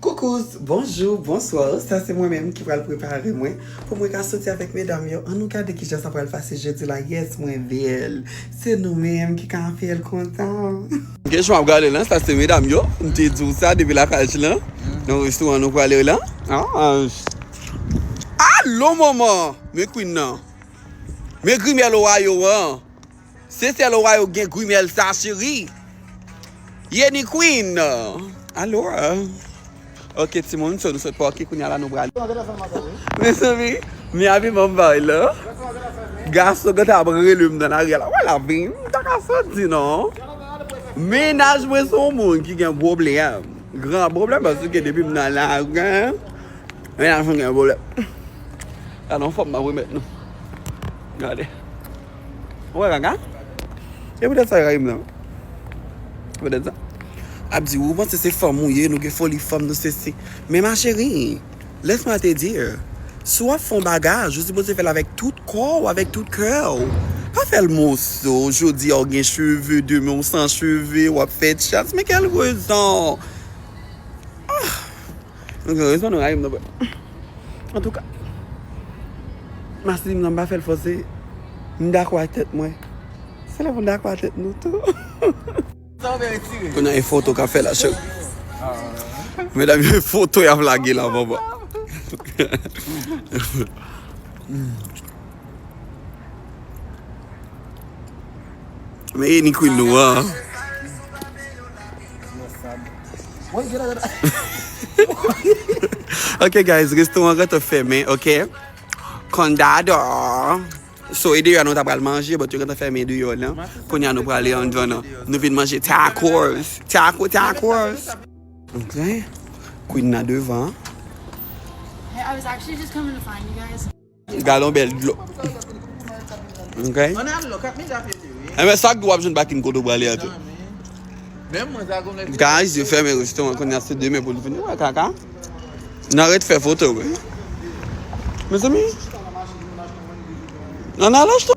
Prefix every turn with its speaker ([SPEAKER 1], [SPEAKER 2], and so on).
[SPEAKER 1] Koukous, bonjou, bonswa, sa se mwen menm ki pral prepare mwen pou mwen ka soti avèk medam yo an nou gade kijan sa pral pase jodi la yes mwen bèl se nou menm ki ka fèl kontan. Kech map gade lan sa se medam yo m te diw sa depi lakaj lan nan restaurant nou prale lan ahh allo moman men queen nan men grimèl ohayo an. Se sèl ou a yo gen grimèl sa cheri Yeni Queen Alora Ok timoun so nou sot pòki kounya la nou pral Mezanmi mi a pi banm vay la Gason gen ta ap rele m nan lari a la wè la vi m ta ka soti non Mennaj mwen son moun ki gen pwoblèm gran pwoblèm paske depi m nan lari Mennaj mwen gen pwoblèm Gadon fòm m ap remèt nou Gade Ou wè kaka? Se poutèt sa yo rayi m lan. Se poutèt sa. Ap di ou panse se fanm ou ye, nou gen foli fanm, nou sesi. Men ma chérie, laisse moi te dire, si w ap fè yon bagaj, ou sipoze fè l avèk tout kò ou, avèk tout kè ou. Pa fè l moso, jodi a ou gen cheve, demen ou san cheve, w ap fè chas. Men kèl rezon! Ah! Nou gen rezon nou rayi m nan but. Antouka. Masisi m nan m pa fè l fòse. M dakò ak tèt mwen. Se lè pou n dakò ak tèt nou tou. Kounye a e foto k ap fè la cheri. Medam yo e foto y ap lage la bòbò. Men e ni Queen nou an. Ok guys restaurant an te fèmen ok Condado So e deyò a nou ta pral manje but yo gentan fèmen deyò lan Kounye a nou prale anndan nan Nou vin manje tacos Taco tacos Ok Queen nan devan.
[SPEAKER 2] Gadon bèl dlo.
[SPEAKER 1] Ok. Enben sak di wap jwenn bakin kote ou prale a tou. Guys yo fèmen restoran kounya se demen pou nou vini wè kaka. Nan ret fè foto wi. Mezanmi. Nan al achte.